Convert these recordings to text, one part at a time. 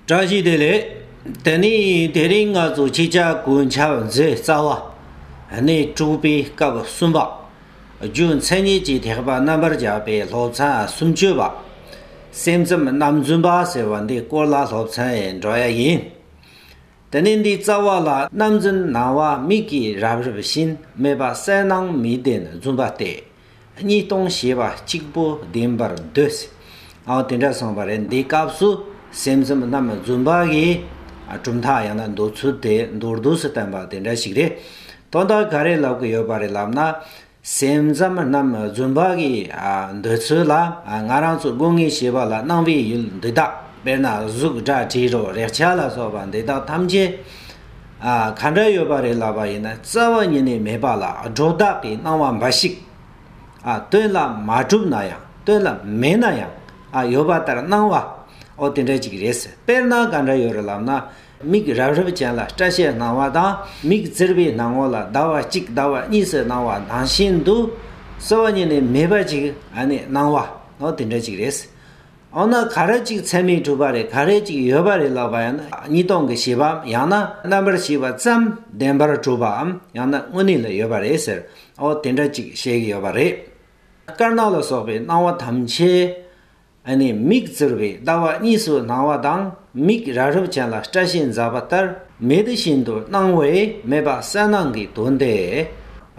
བཀྲ་ཤིས་བདེ་ལེགས། དེ་ནས་དེ་རིང་ང་ཚོ་སྤྱི་ཁྱབ་གོས་འཆར་མཛད་རྩ་བ་ནས་དྲུག་པའི་སྐབས་གསུམ་པ། རྒྱུ་མཚན་ཉིད་ཀྱི་ཐེག་པ་རྣམ་པར་རྒྱལ་པའི་སློབ་ཚན་གསུམ་བཅུ་པ། སེམས་ཙམ་རྣམ་རྫུན་པ་ཟེར་བ་འདི་སྐོར་ལ་སློབ་ཚན་འགྲོ་ཡ་ཡིན། དེ་ནས་འདིའི་རྩ་བ་ལ་རྣམ་རྫུན་སྣང་བ་མིག་གིས་རབ་རིབ་བཞིན་མེད་པ་གསལ་སྣང་མི་བདེན་རྫུན་པ་སྟེ། གཉིས་སྟོང་ཞེས་པ་གཅིག་པོ་བདེན་པར་འདོད། ཨའོ་དེ་འདྲ་གསུངས་པ་རེད་འདི་སྐབས་སུ་སེམས་གསུམ་རྣམ་པ་བརྫུན་པ་གི་གྲུབ་མཐའ་ཡང་ན་འདོད་ཚུལ་དེ་མདོར་བསྡུས་སུ་བསྟན་པ་དེ་འདྲ་ཞིག་རེད། དོན་དག་ག་རེ་ལབ་གི་ཡོད་པ་རེད་ལབ་ན། སེམས་གསུམ་རྣམ་པ་བརྫུན་པ་གི་འདོད་ཚུལ་ལ་ང་རང་ཚོ་སྒོ་ངའི་ཤེས་པ་ལ་སྣང་བའི་ཡུལ་འདི་དག་དཔེར་ན་གཟུགས་སྒྲ་དྲི་རོ་རེག་བྱ་ལ་སོགས་པ་འདི་དག་ཐམས་ཅད། ག་འདྲ་ཡོད་པ་རེད་ལབ་པ་ཡིན་ན་རྩ་བ་ཉིད་ནས་མེད་པ་ལ་སྒྲོ་བཏགས་ཀྱི་སྣང་བ་འབའ་ཞིག་སྟོན་ལ་མ་གྲུབ་ན་ཡང་སྟོན་ལ་མེད་ན་ཡང་ཡོད་པ་ལྟར་སྣང་བ་ཨོ་དེ་འདྲ་ཅིག་རེད་ཟེར་དཔེར་ན་ག་འདྲ་ཡོད་རེད་ལབ་ན་མིག་རབ་རིབ་ཅན་ལ་སྐྲ་ཤད་སྣང་བ་དང་མིག་བཙིར་བའི་སྣང་ངོ་ལ་ཟླ་བ་གཅིག་ཟླ་བ་གཉིས་སུ་སྣང་བ་དང་བཞིན་དུ་རྩ་བ་ཉིད་ནས་མེད་པ་ཅིག་སྣང་བ་ཨོ་དེ་འདྲ་ཅིག་རེད་ཟེར། འོ་ན་ག་རེ་གཅིག་ཚད་མའི་གྲུབ་པ་རེད་ག་རེ་གཅིག་ཡོད་པ་རེད་ལབ་པ་ཡང་ན་གཉིས་སྟོང་གི་བྱེད་པའམ་ཡང་ན་རྣམ་པར་ཤེས་པ་ཙམ་བདེན་པར་གྲུབ་པའམ་ཡང་ན་དངོས་གནས་ལ་ཡོད་པ་རེད་ཟེར་འོ་དེ་འདྲ་གཅིག་བཤད་ཀྱི་ཡོད་པ་རེད། དཀར་ནག་ལ་སོགས་པའི་སྣང་བ་ཐམས་ཅད། ཨ་ནི་མིག་བཙིར་བའི་ལྟ་བ་གཉིས་སུ་སྣང་བ་དང་མིག་ར་རུབ་ཅན་ལ་སྐྲ་ཤད་འཛག་པ་ལྟར་མེད་དེ་བཞིན་དུ་སྣང་བས་མེད་པ་གསལ་སྣང་གི་དོན་ཏེ།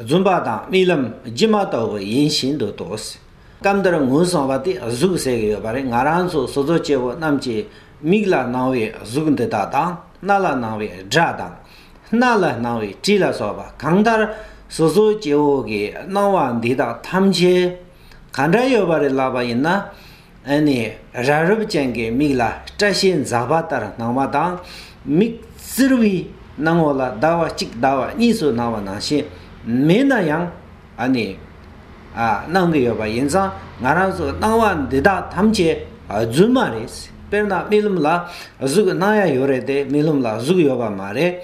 རྫུན་པ་དང་རྨི་ལམ་སྒྱུ་མ་ལྟ་བུ་ཡིན་བཞིན་དུ་དོགས། སྐབས་འདིར་ངོས་བཟུང་བ་དེ་གཟུགས་ཟེར་གྱི་ཡོད་པ་རེད་ང་རང་ཚོ་བཟོ་བཙོག་སྐྱེ་བོ་རྣམས་ཀྱིས་མིག་ལ་སྣང་བའི་གཟུགས་འདི་དག་དང་སྣ་ལ་སྣང་བའི་སྒྲ་དང། སྣ་ལ་སྣང་བའི་དྲི་ལ་སོགས་པ་གང་ལྟར་བཟོ་བཙོག་སྐྱེ་བོ་གི་སྣང་བ་འདི་དག་ཐམས་ཅད་ག་འདྲ་ཡོད་པ་རེད་ལབ་པ་ཡིན་ན། ཨ་ནི་ར་རུབ་ཅན་གྱི་མིག་ལ་སྐྲ་ཤད་འཛག་པ་ལྟར་སྣང་བ་དང། མིག་བཙིར་བའི་སྣང་བ་ལ་ཟླ་བ་གཅིག་ཟླ་བ་གཉིས་སུ་སྣང་བ་ནང་བཞིན་མེད་ན་ཡང། ཨ་ནི། ཨ། གནང་གི་ཡོད་པ་ཡིན་ཙང་ང་རང་ཚོ་གནང་བ་འདི་དག་ཐམས་ཅད་རྫུན་མ་རེད། དཔེར་ན་རྨི་ལམ་ལ་གཟུགས་གནང་ཡ་ཡོད་རེད་དེ་རྨི་ལམ་ལ་གཟུགས་ཡོད་པ་མ་རེད།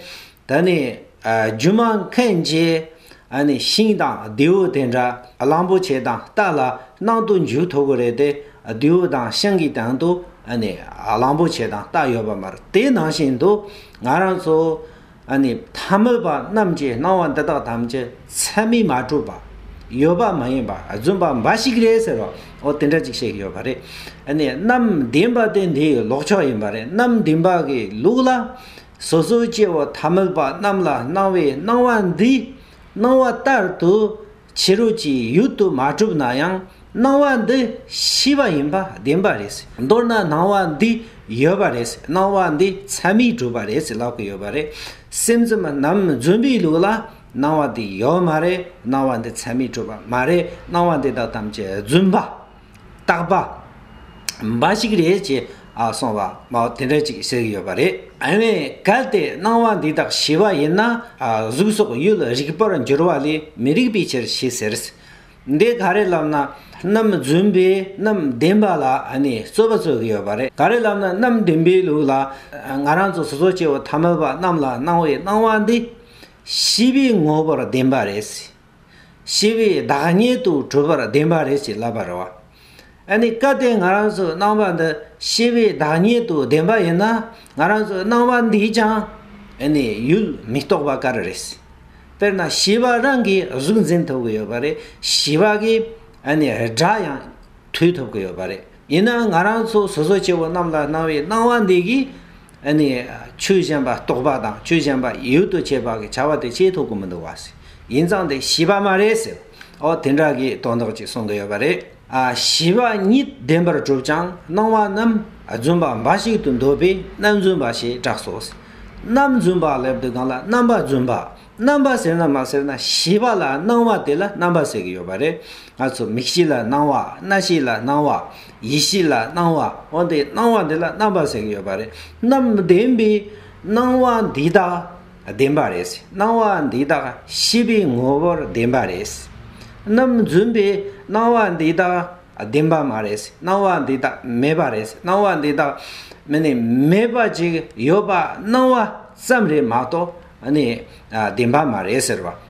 ད་ནི། སྒྱུ་མ་མཁན་གྱིས་ཨ་ནི་ཤིང་དང་རྡེའུ་དེ་འདྲ་གླང་པོ་ཆེ་དང་རྟ་ལ་གནང་དུ་འཇུག་ཐུབ་གི་རེད་དེ་རྡེའུ་དང་ཤིང་གི་སྟེང་དུ་ཨ་ནི་གླང་པོ་ཆེ་དང་རྟ་ཡོད་པ་མ་རེད། དེ་ནང་བཞིན་དུ་ང་རང་ཚོ། ཨ་ནི་ཐ་མལ་པ་རྣམས་ཀྱིས་སྣང་བ་འདི་དག་ཐམས་ཅད་ཚད་མས་མ་གྲུབ་པ། ཡོད་པ་མ་ཡིན་པ་རྫུན་པ་འབའ་ཞིག་རེད་ཟེར་བ་འོ་དེ་འདྲ་ཅིག་བཤད་ཀྱི་ཡོད་པ་རེད། ཨ་ནི་རྣམས་བདེན་པ་དེ་འདིའི་ལོག་ཕྱོགས་ཡིན་པ་རེད་རྣམས་བདེན་པ་གི་ལུགས་ལ། སོ་སོའི་སྐྱེ་བོ་ཐ་མལ་པ་རྣམས་ལ་སྣང་བའི་སྣང་བ་འདི་སྣང་བ་ལྟར་དུ། ཕྱི་རོལ་གྱི་ཡུལ་དུ་མ་གྲུབ་ན་ཡང་སྣང་བ་འདི་ཤེས་པ་ཡིན་པ་བདེན་པ་རེད། མདོར་ན་སྣང་བ་འདི་ཡོད་པ་རེད། སྣང་བ་འདི་མཚན་མས་གྲུབ་པ་རེད་ལབ་ཀྱི་ཡོད་པ་རེད། སེམས་ཙམ་ནམ་རྫུན་པའི་ལུགས་ལ་སྣང་བ་འདི་ཡོད་མ་རེད་སྣང་བ་འདི་མཚན་མས་གྲུབ་པ་མ་རེད་སྣང་བ་འདི་དག་ཐམས་ཅད་རྫུན་པ། བརྟག་པ། འབའ་ཞིག་རེད་ཅེས་གསུངས་པ། དེ་འདྲ་ཅིག་ཟེར་གྱི་ཡོད་པ་རེད། དེ་བས་གལ་ཏེ་སྣང་བ་འདི་དག་ཞི་བ་ཡིན་ན། གཟུགས་སོགས་ཡུལ་ལ་རིག་པར་འགྱུར་བ་ལས་མི་རིགས་པའི་ཕྱིར་ཞེས་ཟེར། འདི་ག་རེ་ལབ་ན་རྣམ་རྫུན་པས་རྣམ་བདེན་པ་ལ་རྩོད་པ་རྩོད་གི་ཡོད་པ་རེད། ག་རེ་ལབ་ན་རྣམ་བདེན་པའི་ལུགས་ལ། ང་རང་ཚོ་སོ་སོ་སྐྱེ་བོ་ཐ་མལ་པ་རྣམས་ལ་སྣང་བའི་སྣང་བ་འདི། ཞི་བའི་ངོ་བོར་བདེན་པ་རེད། ཞེས་པའི་བདག་ཉིད་དུ་གྲུབ་པར་བདེན་པ་རེད་ཅེས་ལབ་པར་རོ། ཨ་ནི་སྐབས་དེ་ང་རང་ཚོའི་སྣང་བ་འདི་ཤེས་པའི་བདག་ཉིད་དུ་བདེན་པ་ཡིན་ན་ང་རང་ཚོའི་སྣང་བ་འདིས་ཀྱང་ཨ་ནི་ཡུལ་མི་རྟོགས་པ་ག་རེ་རེད། དཔེར་ན་བྱིས་པ་རང་གིས་གཟུགས་འཛིན་ཐུབ་ཀྱི་ཡོད་པ་རེད་བྱིས་པ་གིས་ཨ་ནི་སྒྲ་ཡང། ཐུལ་ཐུབ་ཀྱི་ཡོད་པ་རེད། ཡིན་ནའང་ང་རང་ཚོ་སོ་སོ་སྐྱེ་བོ་རྣམས་ལ་སྣང་བའི་སྣང་བ་འདི་གིས། ཨ་ནི། ཆོས་གཞན་པ་རྟོགས་པ་དང་ཆོས་གཞན་པ་ཡུལ་དུ་བྱེད་པ་གི་བྱ་བ་དེ་བྱེད་ཐུབ་ཀྱི་མི་འདུག་བ་ཟེར། ཡིན་ཙང་དེ་ཞི་བ་མ་རེད་ཟེར། ཨོ་དེ་འདྲ་གི་དོན་དག་ཅིག་གསུང་གི་ཡོད་པ་རེད། ཨ་ཞི་བ་ཉིད་བདེན་པར་གྲུབ་ཀྱང་སྣང་བ་རྣམས་རྫུན་པ་འབའ་ཞིག་ཏུ་འདོད་པས་རྣམ་རྫུན་པ་ཞེས་གྲགས་སོ། རྣམ་རྫུན་པ་ལབ་དུས་གང་ལ་རྣམ་པ་རྫུན་པ་རྣམ་པ་ཟེར་ན་མ་ཟེར་ན་བྱིས་པ་ལ་སྣང་བ་དེ་ལ་རྣམ་པ་ཟེར་གྱི་ཡོད་པ་རེད། ང་ཚོ་མིག་ཤེས་ལ་སྣང་བ་སྣ་ཤེས་ལ་སྣང་བ་ཡིད་ཤེས་ལ་སྣང་བ་འོན་ཏེ་སྣང་བ་འདི་ལ་རྣམ་པ་ཟེར་གྱི་ཡོད་པ་རེད། རྣམ་བདེན་པའི་སྣང་བ་འདི་དག་བདེན་པ་རེད། སྣང་བ་འདི་དག་བྱིས་པའི་ངོ་བོར་བདེན་པ་རེད། རྣམ་རྫུན་པའི་སྣང་བ་འདི་དག་བདེན་པ་མ་རེད་སྣང་བ་འདི་དག་མེད་པ་རེད་སྣང་བ་འདི་དག་མི་ནི་མེད་པ་ཅིག་ཡོད་པ་སྣང་བ་ཙམ་རེད་མ་གཏོགས་ནི་བདེན་པ་མ་རེད་ཟེར་བ།